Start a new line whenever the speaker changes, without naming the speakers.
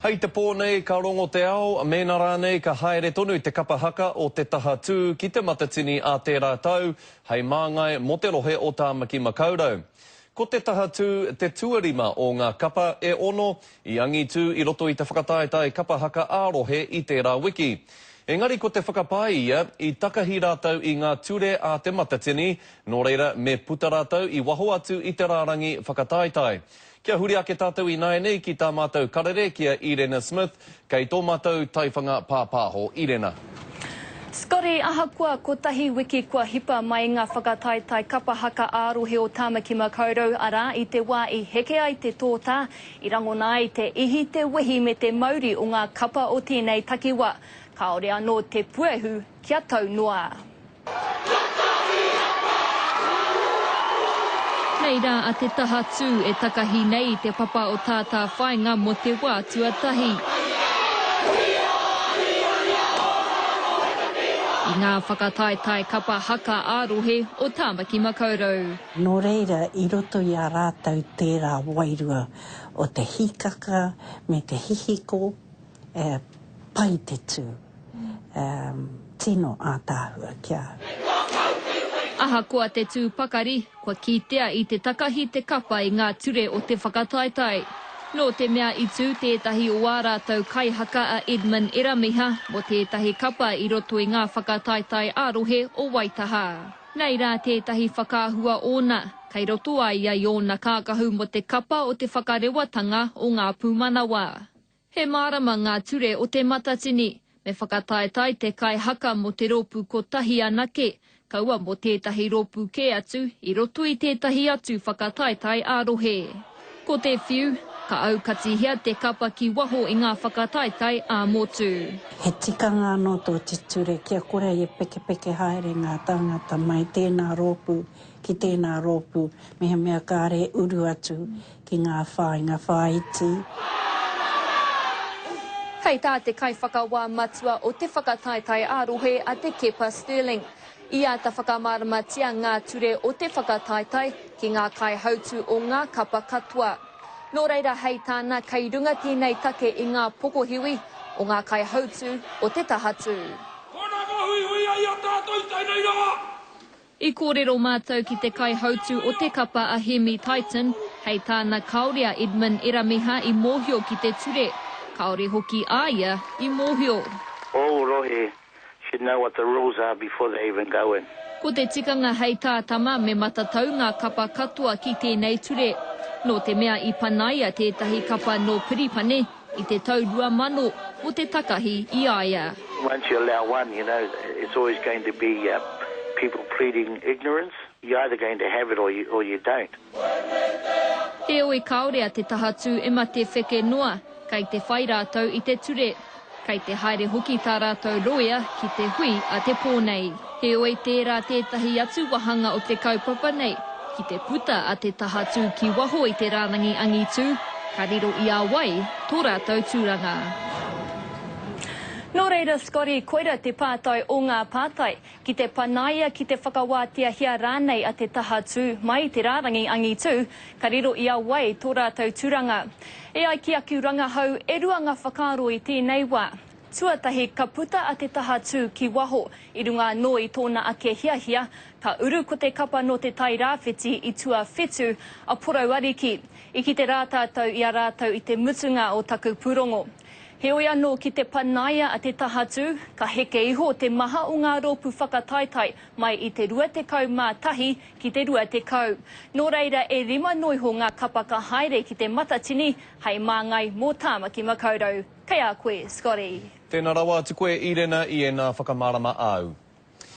Hei te pō nei ka rongo te ao, mēnā rānei ka haere tonu te kapa haka o Te Taha Tū ki Te Matatini ā tērā tau hei māngai mō te rohe o Tāmaki Makaurau. Ko Te Taha Tū te tuarima o ngā kapa e ono i angitū i roto i te whakataetae kapa haka ā-rohe i tērā wiki. Engari ko te whakapae ia, i takahi rātou i ngā ture a Te Matatini, nō reira me puta rātou i waho atu i te rārangi whakataetae. Kia huri ake tātou ināianei ki tā mātou karere ki a Irena Smith, kei tō mātou taiwhanga pāpāho. Irena. Scotty,
ahakoa kotahi wiki kua hipa mai ngā whakataetae kapa haka ā-rohe o Tāmaki Makaurau, arā, i te wā i heke ai te tōtā, i rangona ai te ihi, te wehi me te mauri o ngā kapa o tēnei takiwā, kāore anō te puehu kia tau noa. Nei rā a Te Tahatū e takahi nei i te papa o tā tā whāinga mō te wā tuatahi. I ngā whakataetae kapa haka ā-rohe o Tāmaki Makaurau. Nō reira,
i roto i a rātou tērā wairua o te hīkaka me te hihiko E pai te tū. E tino ātaahua ki a au.
Ahakoa te tū pakari, kua kitea i te takahi te kapa i ngā ture o te whakataetae. Nō te mea i tū tētahi o ā rātou kaihaka a Edmund Eramiha mō tētahi kapa i roto i ngā whakataetae ā-rohe o Waitaha. Nei rā tētahi whakaahua ōna, kei roto a ia i ōna kākahu mō te kapa o te whakarewatanga o ngā pūmanawa. He mārama ngā ture o Te Matatini. Me whakataetae te kai haka mō te rōpū kotahi anake, kaua mō tētahi rōpū kē atu i roto i tētahi atu whakataetae ā-rohe. Ko te whiu, ka aukatihia te kapa ki waho i ngā whakataetae ā-motu. He tikanga
anō tō te ture kia kore e pekepeke haere ngā tāngata mai tēnā rōpū ki tēnā rōpū mehemea kāre uru atu ki ngā whāinga whāiti.
Kei tā te Kaiwhakawā Matua o te Whakataetae ā-Rohe a Te Keepa Stirling, i āta whakamāramatia ngā ture o te whakataetae ki ngā kaihautū o ngā kapa katoa. Nō reira hei tāna kei runga tēnei take i ngā pokohiwi o ngā kaihautū o te tahatū. Koinā ka huihui ai a tātou i tēnei rā. I kōrero mātou ki te kaihautū o te kapa a Hemi Tyton, hei tāna kāore a Edmund Eramiha i mōhio ki te ture, kāore hoki a ia i mōhio. Ōu rohe
should know what the rules are before they even go in. Ko te tikanga
hei tā Tama me matatau ngā kapa katoa ki tēnei ture. Nō te mea i panaia tētahi kapa nō Piripane, I te tau rua mano, mo te takahi i a ia. Once you allow
one, you know, it's always going to be people pleading ignorance. You're either going to have it or you don't.
Heoi kaore a te tahatū e mate wheke noa, kei te whai rātou i te ture. Kei te haere hoki tā rātou roea ki te hui a te pō nei. Heoi tērā tētahi atu wahanga o te kaupapa nei, ki te puta a te taha tū ki waho i te rārangi angitū, ka riro i a wai tō rātou tūranga. Nō reira Scotty, koira te pātai o ngā pātai, ki te panaia, ki te whakawāteahia rānei a te taha tū mai i te rārangi angitū, ka riro i a wai tō rātou tūranga. E ai ki aku rangahau, e rua ngā whakaaro i tēnei wā, Tuatahi, ka puta a Te Taha Tū ki waho. I runga anō i tōna ake hiahia, ka uru ko te kapa nō Te Tai Rāwhiti i tuawhitu a Porou Ariki. I kite rā tātou i a rātou i te mutunga o taku pūrongo. Heoi anō, ki te panaia a Te Taha Tū, ka heke iho te maha o ngā rōpū whakataetae mai i te 21 ki te 20. Nō reira, e rima noiho ngā kapa ka haere ki te Matatini hei māngai mō Tāmaki Makaurau. Kei a
koe, Scotty.
Tēnā
rawa atu koe, Irena, i
ēnā
whakamārama āu.